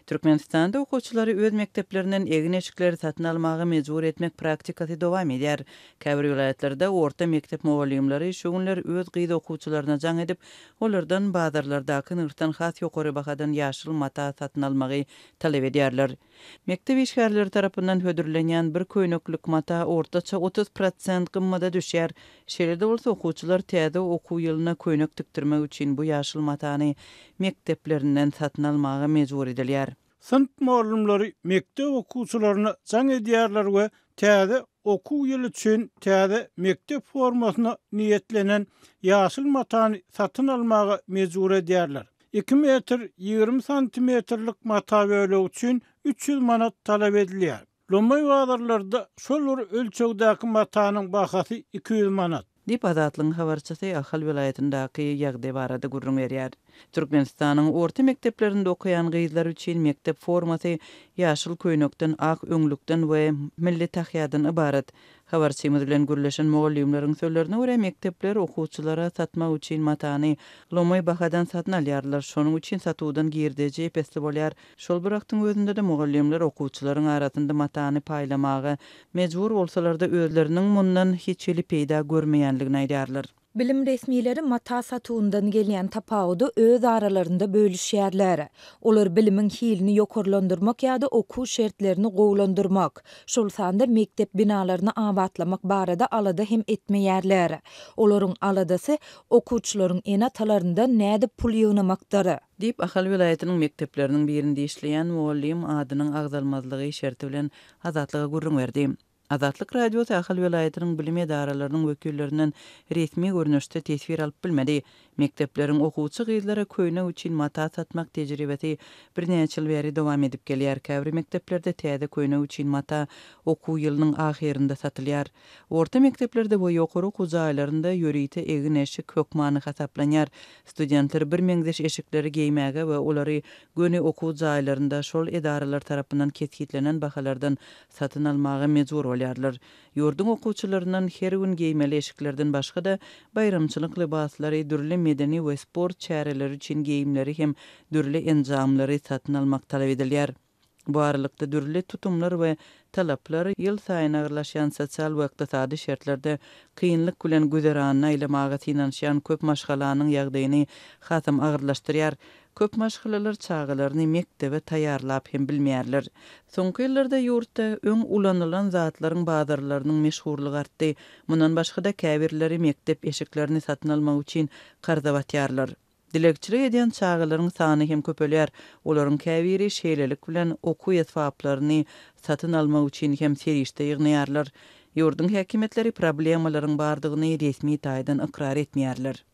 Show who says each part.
Speaker 1: Türkmenistanda okuwçylary öz mekdeplerinden egin-eşikleri satyn almaga mejbur etmek praktikasy dowam edýär. Käbir welaýatlarda orta mekdep mugallymlary şu günler öz gyz okuwçylaryna jaň edip, olardan bazarlardaky nyrhdan has ýokary bahadan ýaşyl mata satyn almagy talap edýärler. Mekdep işgärleri tarapyndan hödürlenýän bir köýneklik mata ortaça otuz prosent gymmada düşýär. Şeýle-de bolsa, okuwçylar täze okuw ýylyna köýnek tikdirmek üçin bu ýaşyl matany mekdeplerinden satyn almaga mejbur edilýär. Synp
Speaker 2: mugallymlary mekdep okuwçylaryna jaň edýärler we täze okuw ýyly üçin täze mekdep formasyna niýetlenen ýaşyl matany satyn almaga mejbur edýärler. Iki metr ýigrimi santimetrlik mata bölegi üçin üç ýüz manat talap edilýär. Lomaý bazarlarda şol bir ölçegdäki matanyň bahasy iki ýüz manat. Diýip, Azatlygyň
Speaker 1: habarçysy Ahal welaýatyndaky ýagdaý barada gürrüň berýär. Türkmenistanyň orta mekdeplerinde okaýan gyzlar üçin mekdep formasy ýaşyl köýnekden, ak öňlükden we milli tahýadan ybarat. Habarçymyz bilen gürleşen mugallymlaryň sözlerine görä, mekdepler okuwçylara satmak üçin matany lomaý bahadan satyn alýarlar. Şonuň üçin satuwdan girdeji ep-esli bolýar. Şol bir wagtyň özünde-de mugallymlar okuwçylaryň arasynda matany paýlamaga mejbur bolsalar-da, özleriniň mundan hiç hili peýda görmeýänligini aýdýarlar. Bilim resmileri
Speaker 3: mata satuwyndan gelýän tapawudy öz aralarynda bölüşýärler. Olar bilimiň hilini ýokarlandyrmak ýa-da okuw şertlerini gowulandyrmak, şol sanda mekdep binalaryny abatlamak barada alada hem etmeýärler. Olaryň aladasy okuwçylaryň ene-atalaryndan nädip pul ýygnamakdyr. Diýip, Ahal
Speaker 1: welaýatynyň mekdepleriniň birinde işleýän mugallym adynyň agzalmazlygy şerti bilen Azatlyga gürrüň berdi. Azatlyk Radiosy Ahal welaýatynyň bilim edaralarynyň wekillerinden resmi görnüşde teswir alyp bilmedi. Mekdepleriň okuwçy gyzlara köýnek üçin mata satmak tejribesi birnäçe ýyl bäri dowam edip gelýär. Käbir mekdeplerde täze köýnek üçin mata okuw ýylynyň ahyrynda satylýar. Orta mekdeplerde we ýokary okuw jaýlarynda ýörite egin-eşik hökmany hasaplanýar. Studentler birmeňzeş eşikleri geýmäge we olary göni okuw jaýlarynda şol edaralar tarapyndan kesgitlenen bahalardan satyn almaga mejbur bolýarlar. Ýurduň okuwçylaryndan her gün geýmeli eşiklerden başga-da, baýramçylyk lybaslary, dürli medeni we sport çäreleri üçin geýimleri hem dürli enjamlary satyn almak talap edilýär. Bu aralykda, dürli tutumlar we talaplar ýylsaýyn agyrlaşýan sosial we ykdysady şertlerde kynlyk bilen güzeranyny aýlamaga synanyşýan köp maşgalanyň ýagdaýyny hasam agyrlaşdyrýar. Köp maşgalalar çagalaryny mekdebe taýýarlap hem bilmeýärler. Soňky ýyllarda ýurtda öň ulanylan zatlaryň bazarlarynyň meşhurlygy artdy. Mundan başga-da, käbirleri mekdep eşiklerini satyn almak üçin karza batýarlar. Dilegçilik edýän çagalaryň sany hem köpelýär, olaryň käbiri şeýlelik bilen okuw esbaplaryny satyn almak üçin hem serişde ýygnaýarlar. Ýurduň häkimiýetleri problemalaryň bardygyny resmi taýdan ykrar etmeýärler.